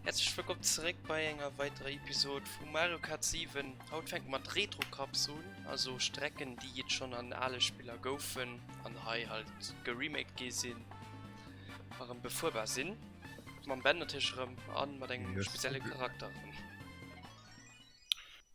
Herzlich willkommen zurück bei einer weiteren Episode von Mario Kart 7. Haut fängt man Retro Cups an, also Strecken, die jetzt schon an alle Spieler goufen und hier halt geremaked gehen sind, waren befuhrbar sind. Man Ben natürlich rum an mit einem speziellen Charakter.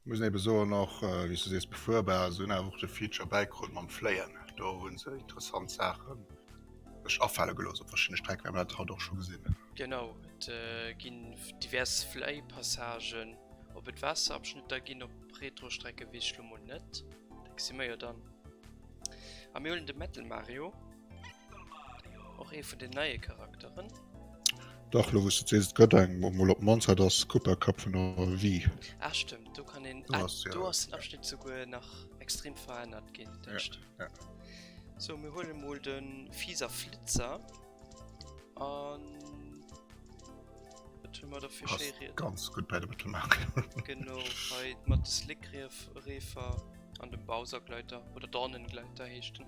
Muss eben soen och wéis du sees befuerbar, se hunn awer och de Feature bäikrutt mam Fléien, do hunn se interessant Saachen sech afale gelooss op verschiddene Strecken, well mer dat haut och scho gesinn hunn. Genau, et ginn divers Fläipassagen op et Waasserabschnitter ginn op Retrostrecke weess ech lo mol net, da gesi mer jo dann. A mir huelen de Metal Mario, och ee vun den neie Charakteren. Dach, lo wous du et sees, et gëtt eng, mol op Monzart ass Cooper Cup vun der Wii. Ah stëmmt, do kann een, ah do ass den Abschnitt souguer nach extrem verännert ginn, dat stëmmt. Ja, ja. So, mir huele mol de Fiser Flitzer an wat hu mer da fir schéi Ried. Ganz gutt bei der Betonung. Genau, hei mat de Slickreefer an dem Bowsergleiter oder Dornengleiter heescht en.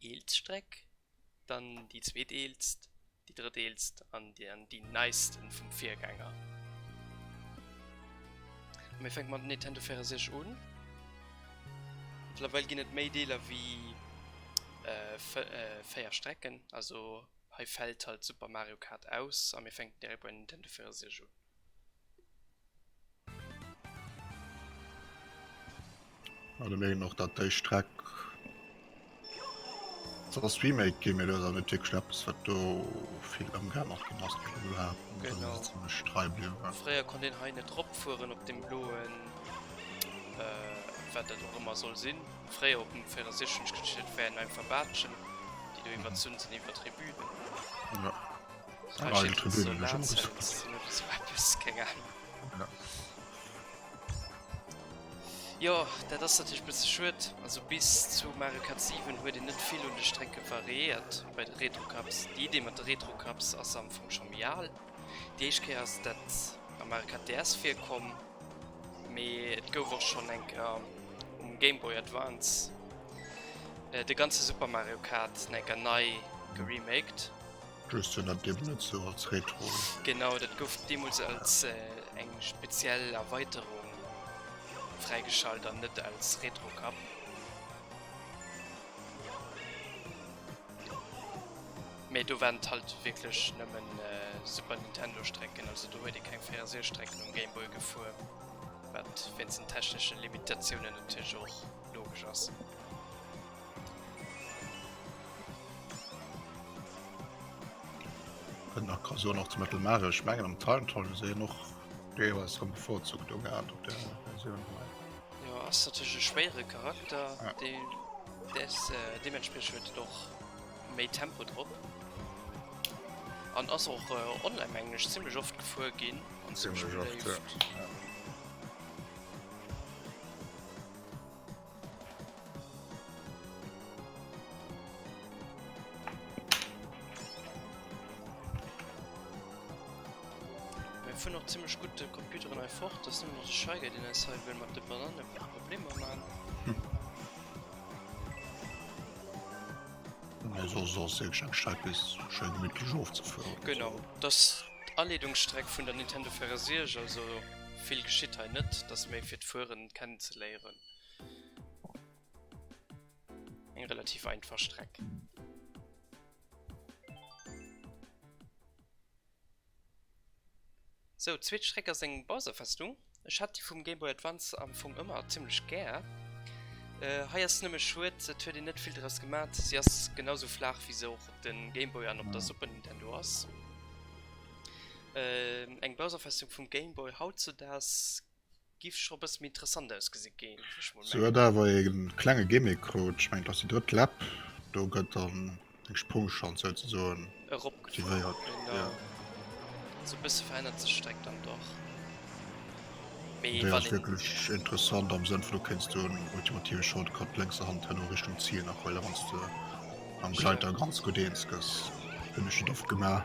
eelst Streck, dann déi zweeteelst, déi drëtteelst an dann déi neisten vum Virgänger. Mir fänke mat Nintendo 64 un. Mëttlerweil ginn et méi Deeler wéi 4 Strecken, also hei fält halt Super Mario Kart aus a mir fänken direkt bei Nintendo 64 un. An ech mengen och dat déi Streck soll ass remake ginn, mee do ass awer net wierklech eppes wat do vill ëmgeännert ginn ass. Déi Blo hat an der Genau. Linn zimmlech trei bliwwen war. Fréier konnt een hei net ropfueren op dem bloen, wat dat och ëmmer soll sinn. Fréier op dem 64 hunn ech geduecht dat wären einfach Baatschen déi do iwwerzunn sinn iwwer Tribünen. Jo. Jo dat ass dat ech bësse schuet also bis zu Mario Kart 7 huet en net vill un de Strecke variéiert bei de Retro Cups. Déi Idee mat de Retro Cups ass am Fong scho méi al. Déi éischt Kéier ass dat am Mario Kart DS virkomm, mee et gouf och schonn eng Kéier um Game Boy Advance de ganze Super Mario Kart enker nei geremaked. Just sinn dat eben net sou als Retro. Genau, dat gouf deemools als eng speziell Erweiterung fräigeschalt an net als Retro Cup. Mee do waren et halt wierklech nëmmen Super Nintendo Strecken, also do huet ee keng 64 Strecken um Game Boy gefuer, wat wéinst den techneschen Limitatiounen natierlech och logesch ass. Kënnt nach Kasur nach zu Mëttelmare, ech mengen am Timetal se en och deelweis am bevorzugt do gehat op der Versioun hei. Jo ass natierlech e schwéiere Charakter, dee dess deementspriech huet et och méi Tempo drop an ass och online mengen ech zimlech oft gefuer ginn an zimlech beléift. Mir fueren och zimmlech gutt de Computeren hei fort, et ass nëmmen nach de Scheiger deen eis hei wëll mat de Banane Problemer man. Mee soss ass jo keng Streck bis schéi gemittlech ofzefueren. Genau, et ass d'Aleedungsstreck vun der Nintendo 64, also vill geschitt hei net, et ass méi fir d'Fueren kennenzeléieren. Eng relativ einfach Streck. So, zweet Streck ass eng Bowser-Festung. Ech hat déi vum Game Boy Advance am Fong ëmmer ziemlech gär. Äh, hei ass nëmme schued, et huet een net vill draus gemat. Si ass genauso flaach wéi se och op de Game Boy an op der Super Nintendo ass. Äh, eng Bowser-Festung vum Game Boy hautzudags Giff scho bëssen méi interessant ausgesinn, géif ech mol mengen. Se huet awer ee klenge Gimmick krut, ech mengen et ass déi drëtt Lap, do gëtt dann eng Sprungschanz souzesoen aktivéiert. Also e bësse verännert sech d'Streck dann dach. Déi ass wierklech interessant am Sënn vun do kéints du en ultimative Shortcut lénkser Hand herno Richtung Zil nach huelen, wann s de mam Gleiter ganz gutt eens gëss. Hunn ech net oft gemaach.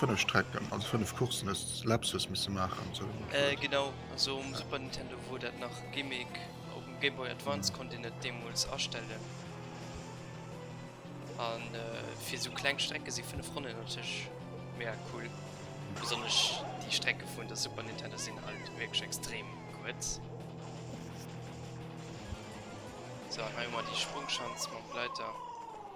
5 Strecken, also 5 Coursen, hues Lapsus misse maachen sou wéi mat Word. Genau, also um Super Nintendo wor dat nach Gimmick, opm Game Boy Advance konnt een et deemols astellen an fir sou kleng Strecke si 5 Ronnen natierlech mega cool, besonnesch déi Strecke vun der Super Nintendo sinn halt wierklech extrem kuerz. Sou an hei hu mer déi Sprungschanz mam Gleiter.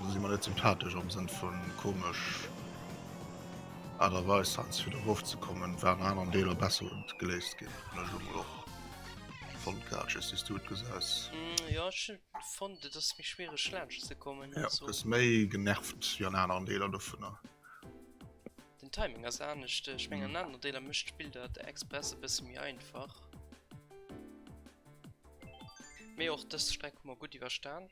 Also si mer net sympathesch am Sënn vu komesch Aart a Weis heiansdo fir erof ze kommen, war an aneren Deeler besser geléist ginn, hunn ech emol och fonnt gehat. Just wéi s du et gesäis. Mm, Ja, ech hun fonnt et ass méi schwiereg laanscht ze kommen. Ja, Also bist méi genervt wéi an aneren Deeler dovunner. den Timing ass anescht. Ech meng an aneren Deeler mécht d'Spill dat express e bësse méi einfach. Mee och dës Streck hu mer gutt iwwerstan.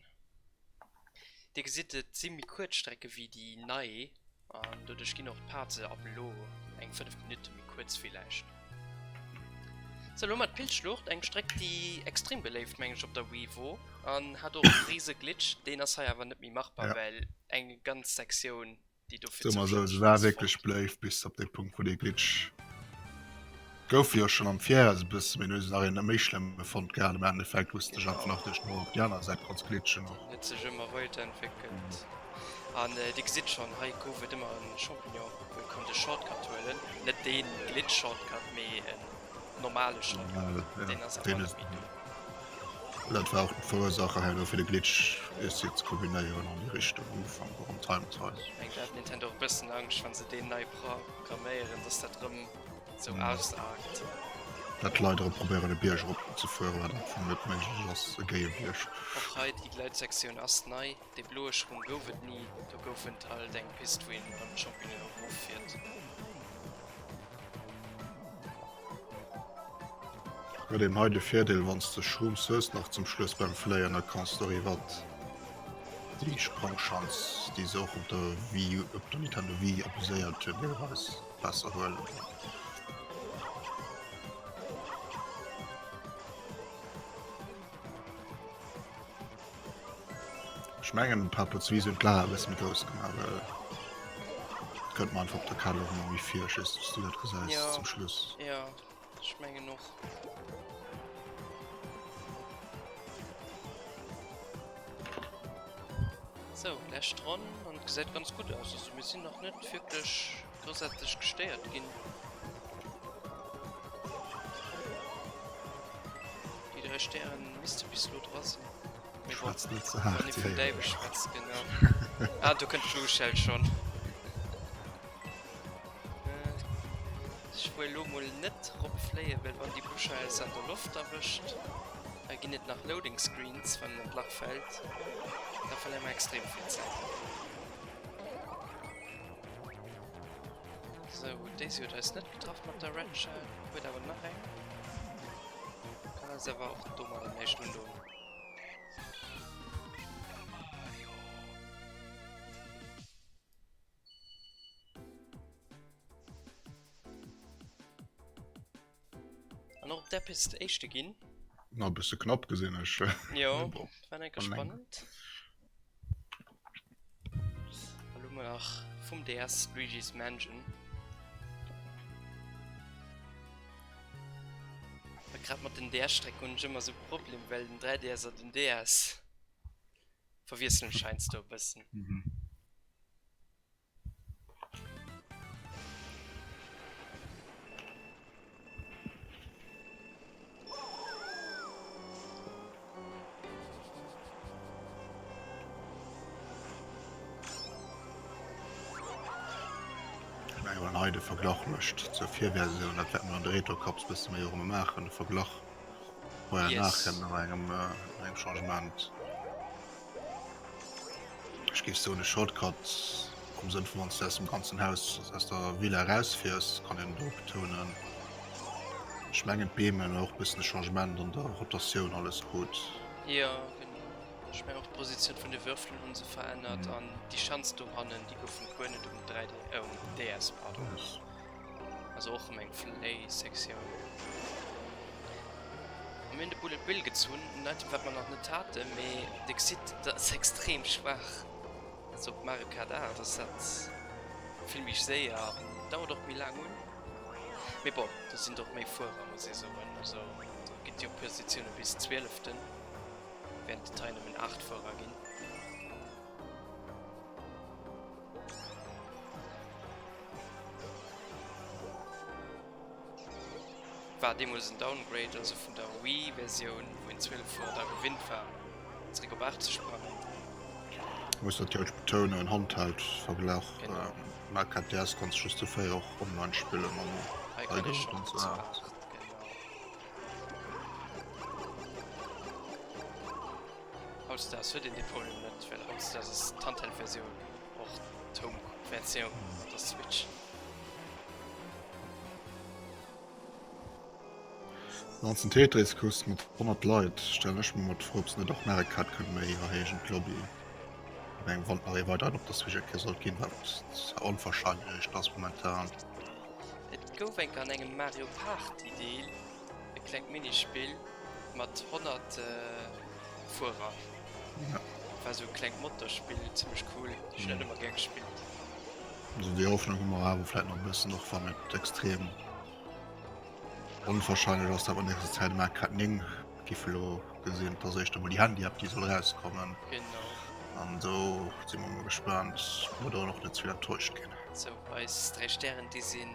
Dir gesitt et si méi kuerz Strecke wéi déi nei an doduerch ginn och d'Pause ab elo eng 5 Minutte méi kuerz villäicht. Sou elo mat Pilzschlucht, eng Streck déi extrem beléift meng ech op der Wii wor an hat och e rise Glitch, deen ass hei awer net méi machbar well eng ganz Sektioun déi do fir zoustänneg waren. Se war wierklech bléift bis op dee Punkt, wou dee Glitch gouf. Jo schonn am Vir ass e bësse méi lues nach een méi schlëmm fonnt gehat. Am Endeffekt wouste sech einfach nach duerch d'Mauer op déi aner Säit konns glitschen. Och huet sech ëmmer weider entwéckelt. An Dir gesitt schonn, hei gouf et ëmmer e Champignon, wou ee konnt e Shortcut huelen. Net dee Glitch-Shortcut, mee en. normale schon dat war verursacher he fir de glitch is jetzt kombinéieren an die richtung ufang warum time nintendo bessen angst wann se de nei programmieren dass dat rum so mhm. aus dat leider probieren de bierger op zu fuhr war vu net mensch ge die gleit sektion as nei Dee bloe Schrung gouf et ni, do gouf en alt eng Pist wou een mam Champignon erof fiert. Huet een hei de Virdeel wanns de Schrumps hues nach zum Schluss beim Fléien da kanns de riwwert déi Sprangschanz déi se och op der Wii U, op der Nintendo Wii abuséiert hunn deelweis, besser huelen. Ech mengen en paar Potzwies hun d'Laach e bessen méi grouss gemaach well könnt mer einfach op der Kalo méi méi vir just dass du dat gesäis ja. zum Schluss. Ja, ech mengen och. So, läscht dran und gesäit ganz gut aus. Also mir sinn nach net wirklich Dosätzlech gestéiert ginn. Déi dräi Stären misste bis elo dra sinn. Mee bon, Schwätzt net ze wann haart. ee vum Däiwel Hehe. schwätzt, genau. Ah, do kënnt d'Luuschelt schonn. Äh, ech wuel elo mol net drop fléien, well wann déi Buscheiers an der Loft erwëscht, da ginn et nach Loading Screens, wann en an d'Lach fält. Da verléiere mer extrem vill Zäit. So, Daisy huet eis net getraff mat der Red Shell, huet awer nach eng. Kann eis awer och do mat am nächsten Hunde hunn. An op der Piste éischte ginn. Na, bist du knapp gesinn, ech. Jo, war net gespannt. Hallo mol nach vum DS Luigi's Mansion. Wat grad mat den DS Strecken hunn ech ëmmer sou Problem well den 3DS an den DS verwiesselen scheinst do e bëssen. hei de Verglach mëscht zur Virversioun, dat wäerten an de Retrocops bësse méi erëm maachen, de Verglach, wou en yes. nach kënnt no engem, äh, engem Changement. Ech géif soen e Shortcut am Sënn vu wanns de aus dem ganzen Haus aus der Villa erausfiers, kann een do betounen. Ech mengen d'Beem hunn och bëssen e Changement an der Rotatioun alles krut. Jo genau, ech mengen och d'Positioun vun de Würfelen hu se verännert an déi Schanz dohannen déi gouf vum Kuer net um 3D, um DS pardon. Also och meng Fléi-Sektioun. Mir hunn de Bullet Bill gezunn, net wat mer nach net haten, mee Dir gesitt, dat ass extrem schwaach. Also op Mario Kart 8 ass dat vill méi séier, dauert och méi laang un. Mee bon, do sinn och méi Fuerer, muss ee soen. Also do gitt jo Positioune bis Zwieleften, während et hei nëmmen 8 Fuerer ginn. War deemols en Downgrade, also vun der Wii Versioun wou een 12 Woer dra gewinnt war, zeréck op 80 kommen. Muss natierlech betounen, en Handheld Verglach, Mac a DS konnt sech just dofir och online spillen an hei kann een scho gutt zoulafen. Hautdesdaags huet een dee Problem net, well hautdesdaags ass d'Handheld-Versioun och d'Home-Versioun mat der Switch. D'Nanzen Tetris Quest mat 100 Leit stellen ech mer mat fro, ob se net och Mario Kart kënnen méi erhéijen, d'Lobby op engem Wand nach ee weideren op der Switch erkläert sollt ginn, wat zwar onwahrscheinlech ass momentan. Et gouf eng Kéier an engem Mario Party Deel E klengt Minispill mat 100 Fuerer. War sou e klengt Motorspill, zimlech cool. Ech hunn dat ëmmer gär gespillt. Also déi Hoffnung hu mer awer vläit nach e bëssen, och wann et extrem onwahrscheinlech ass, dat mer an nächster Zäit um Arcade 9 giffe elo gesinn. Et ass éischter emol déi Handy-App, déi soll erauskommen. Genau. An do si mer emol gespaant, ob mer do och net ze vill enttäuscht ginn. Sou, eis dräi Stären, déi sinn.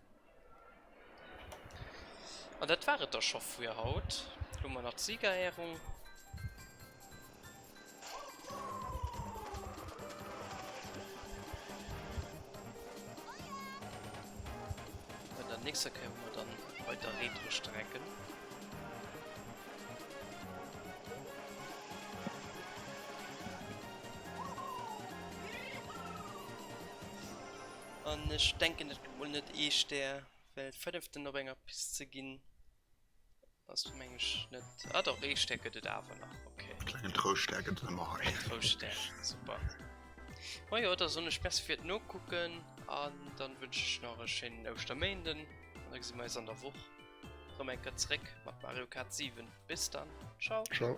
An dat war et da scho fir haut. Elo hu mer nach d'Siegerehrung. An der nächster Kéier hu mer dann weider Retro-Strecken. An ech denken, dat gëtt mol net ee Stär, well e fënneften op enger Pist ze ginn, ass meng ech net. Ah doch, ee Stär gëtt et awer nach, ok. E klengen Trouschtstär gëtt et ëmmer hei. Trouschtstär, super. Majo, da soen ech Merci fir d'Nokucken an dann wënschen ech nach e schéinen Ouschterméinden an da gesi mer eis an der Woch rëm eng Kéier zeréck mat Mario Kart 7. Bis dann, ciao. Ciao.